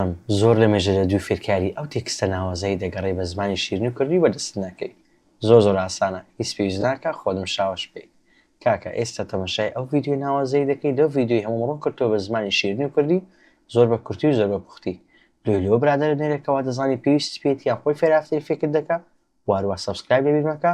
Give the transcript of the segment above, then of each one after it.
بەڵام زۆر لەمێژە لە دوو فێرکاری ئەو تێکستە ناوازەی دەگەڕێی بە زمانی شیرین و کوردی بەردەستت ناکەی زۆر زۆر ئاسانە هیچ پێویست ناکا خۆت مشاوەش بکەی کاکە ئێستا تەمەشای ئەو ڤیدیۆ ناوازەی دەکەی لەو ڤیدیۆی هەمووم ڕوون کردتەوە بە زمانی شیرین و کوردی زۆر بە کورتی و زۆر بە پوختی لۆی لۆ برادەرە نێرەکە وادەزانی پێویستت پێیەتی یان خۆی فێرافتەی فێکت دەکا بواروا سەبسکرایب لەبیر مەکە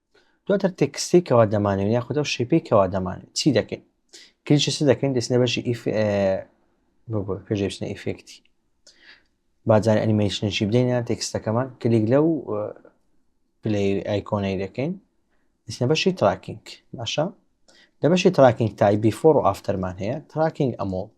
دواتر تێکستەی کەوا دەمانەوێت یاخود ئەو شێپەی کەوا دەمانێت چی دەکەین کلیچە چ دەکەین دەچنە بەشی ئیف پێژێشتە ئیفێکتی بازار ئەنیمەیشنشی بدەینە تێکستەکەمان کلیک لەو پلی ئایکۆنەی دەکەین دەچنە بەشی تراکینگ باشە لە بەشی تراکینگ تای بیفۆڕ و ئافتەرمان هەیە تراکینگ ئەمۆت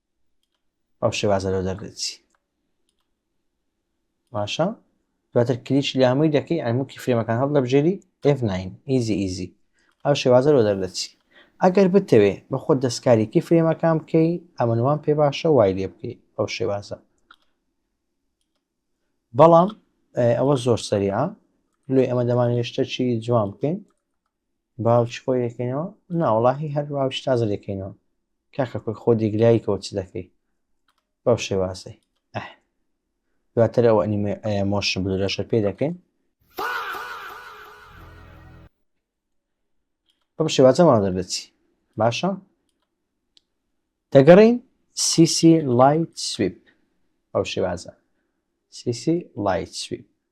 ئەو شێوازە لەو دەردەچی باشە دواتر کلیچ لە هەمووی دەکەی ئەموکی فرێمەکان هەڵ دەبژێری F9 ئیزی ئیزی ئەو شێوازە لەو دەردەچی ئەگەر بتەوێ بە خۆت دەستکارێکی فرێمەکان بکەی ئەمەوان پێ باشە وای لێ بکەی ئەو شێوازە بەڵام ئەوە زۆر سەریعە لێ ئەمە دەمانێشتە چی جوان بکەین باوچ خۆی دەکەینەوە ناوەڵاهی هەر باوچ تازە دەکەینەوە کاکە خۆی خۆ دیگلایی کەوت چ دەکەی بەو شێوازەی دواتر ئەو ئەنیمە مۆشن بلورەشە پێ دەکەین بەم شێوازەمان دەردەچی باشە دەگەڕین سیسی لایت سویپ ئەو شێوازە سیسی لایت سویپ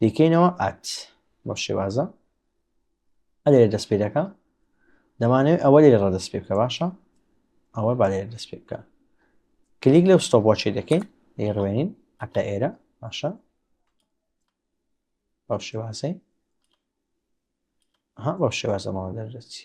دیکەینەوە ئات بۆ شێوازە ئەلێ دەست پێ دەکە دەمانەوێت ئەوە لێ ڕە دەست پێ بکە باشە ئەوە با لێ دەست پێ بکە کلیک لەو ستۆ بۆ چێ دەکەین لێ ڕوێنین ئەتا ئێرە باشە بەو شێوازەی ها بەو شێوازەمەوە دەردەچی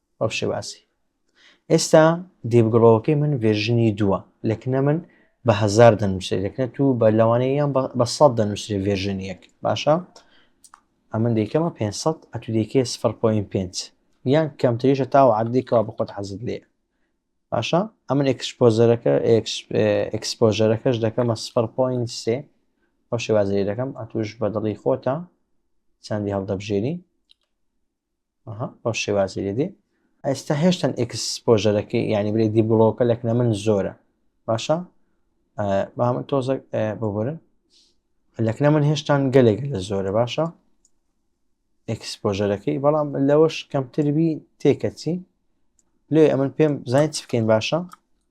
بەمشێ باسی ئێستا دیڤ گڵۆوەکەی من ڤێرژنی دووە لەکنە من بە هزار دەنووسێت لەکنە تو بە لەوانەیەیان بە سەد دەنووسێ ڤێرژن یەک باشە ئەمن دیکەمە 500 ئەتو دیکێ 0.5 یان کەمتریشە تاوە عادێکەوە بە خۆت حەزت لێ باشە ئەمن ئەکسپۆزەرەکە ئەکسپۆژەرەکەش دەکەمە 0.3 ئەو شێوازری دەکەم ئەتوش بە دڵی خۆتە چەندی هەڵدەبژێری ئەها بەو شێوازی لێدێ ئێستا هێشتن ئەکسپۆژەرەکەی یعنی بلێ دیبڵۆکە لەکنە من زۆرە باشە بامە تۆزە ببورن لەکنە من هێشتان گەلێک لە زۆرە باشە ئەکسپۆژەرەکەی بەڵام لەوەش کەمتربی تێکەچی لێ ئەمن پێم زانیت بکەین باشە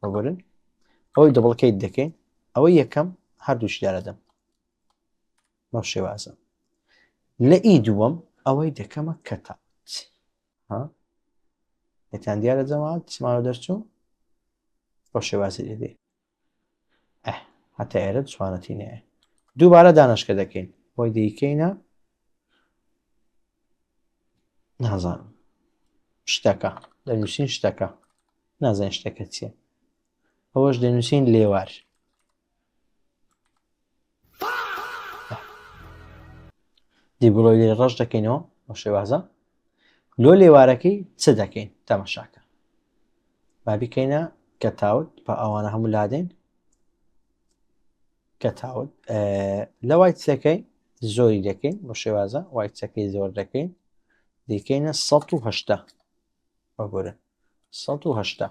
ببورن ئەوەی دەبڵکەیت دەکەین ئەوەی یەکەم هەردووشدارەدەم بەم شێوازە لە ئی دووەم ئەوەی دەکەمە کەتات ها دەتان دیارە جەماعەت سماوە دەرچوو بە شێوازی دەبێ هەتا ئێرە جوانەتی نەیە دووبارە دانشکە دەکەین بۆی دەیکەینە نازانم شتەکە دەنووسین شتەکە نازانین شتەکە چییە ئەوەش دەنووسین لێوار دیبڵۆی لێ ڕەش دەکەینەوە بە شێوازە لۆ لێوارەکەی چ دەکەین تەمەشاکە با بیکەینە کە تاوت بە ئەوانە هەموو لادەین کە تاوت لە وای چەکەی زۆری دەکەین بە شێوازە وای چەکەی زۆر دەکەین دیکەینە 1970 بەگورن 1970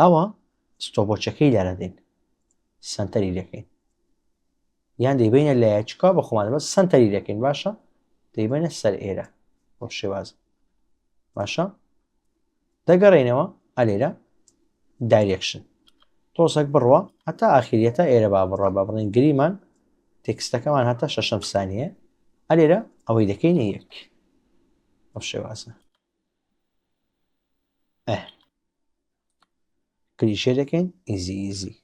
ئەوە ستۆبۆچەکەی لارە دێن سنتەری دەکەین یان دەیبینە لایە چکا بە خۆمان بە سنتەری دەکەین باشە دەیبێنە سەر ئێرە بۆ شێواز باشە دەگەڕێنەوە ئەلێرە دایرێکشن تۆزەک بڕوە هەتا ئاخریە تا ئێرە با بڕە بە بڵێن گریمان تێکستەکەمان هەتا شەشەم سانیە ئەلێرە ئەوەی دەکەینە یەک ئەو شێوازە ئه. کلیشێ دەکەین ئیزی ئیزی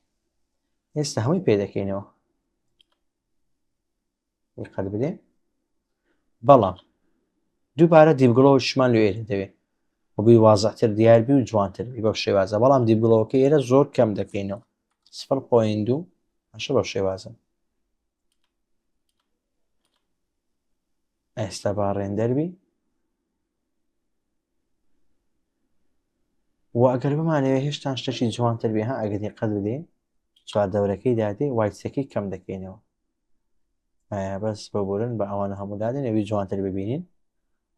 ئێستا هەمووی پێ دەکەینەوە قەت بدێ بەڵام دووبارە دیبگڵەوەشمان لێ دەوێت وبی وازەتر دیاربی و جوانتر بی بەو شێوازە بەڵام دیبگڵەوەکە ئێرە زۆر کەم دەکەینەوە سفر پوین دوو ئەشە بەو شێوازە ئێستا با ڕێندەر بی و ئەگەر بمانەوێت هێشتان شتەکی جوانتر بێ ها ئەگەر دیقەت بدەین چوار دەورەکەی دادێ وایسەکەی کەم دەکەینەوە بەس ببورن بە ئەوانە هەموو دادێن ئەوی جوانتر ببینین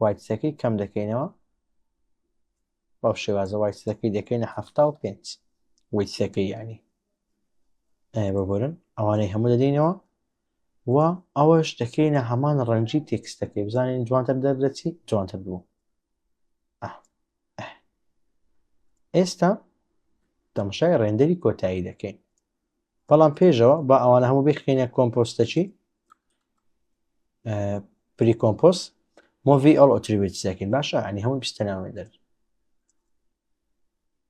وایسەکەی کەم دەکەینەوە بەو شێوازە وایسەکەی دەکەینە هەفتا و پێنج ویسەکەی ینی ببورن ئەوانەی هەموو دەدەینەوە و ئەوەش دەکەینە هەمان ڕەنجی تێکستەکەی بزانین جوانتر دەردەچی جوانتر بوو ئێستا دەمشای ڕێندەری کۆتایی دەکەین بەڵام پێشەوە بە ئەوانە هەموو بخینە کۆمپۆستەچی پری کۆمپۆس مۆڤی ئەڵ ئۆتریوێتسەکەین باشە ئەنی هەموو بستەناوێ دەر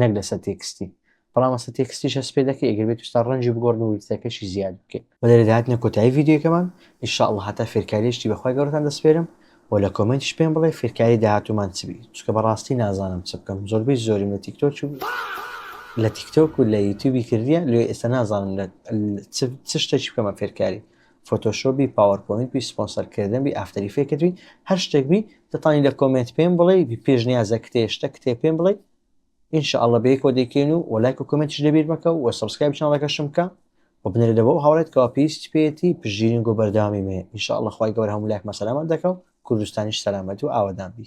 نەک لەسەر تێکستی بەڵام ئەسە تێکستیش هەست پێ دەکەی ئەگەر بێت ستا ڕەنجی بگۆڕن و ویستەکەشی زیاد بکەین بە لێرە دەهاتنە کۆتایی ڤیدیۆکەمان ئیشاءاللە هەتا فێرکاریشتی بەخوای گەورەتان دەسپێرم و لە کۆمێنتیش پێم بڵێ فێرکاری داهاتوومان چ بی چکە بەڕاستی نازانم چ بکەم زۆربەی زۆریم لە تیکتۆک و لە تیکتۆک و لە یوتیوبی کردیە لێ ئێستا نازانم لە چ شتێکی بکەمە فێرکاری فۆتۆشۆپ بی پاوەرپۆینت بی سپۆنسەر کردن بی ئافتەر ئیفێکت بی هەر شتێک بی دەتانی لە کۆمێنت پێم بڵێی بی پێشنیازە کتێ شتە کتێ پێم بڵێی ان شاء الله بەیەکەوە دەیکەین و وە لایک و کۆمێنتیش لەبیر مەکە و سبسکرایب چناڵەکەشم بکە و بنێرە لە بۆ هاوڕێت کەوا پێویستی پێیەتی پشگیرین گۆ بەردەوامی مێ ان شاء الله خوای گەورە هەموو لایکمە سەلامەت دەکە و کوردستانیش سەلامەت و ئاوەدان بی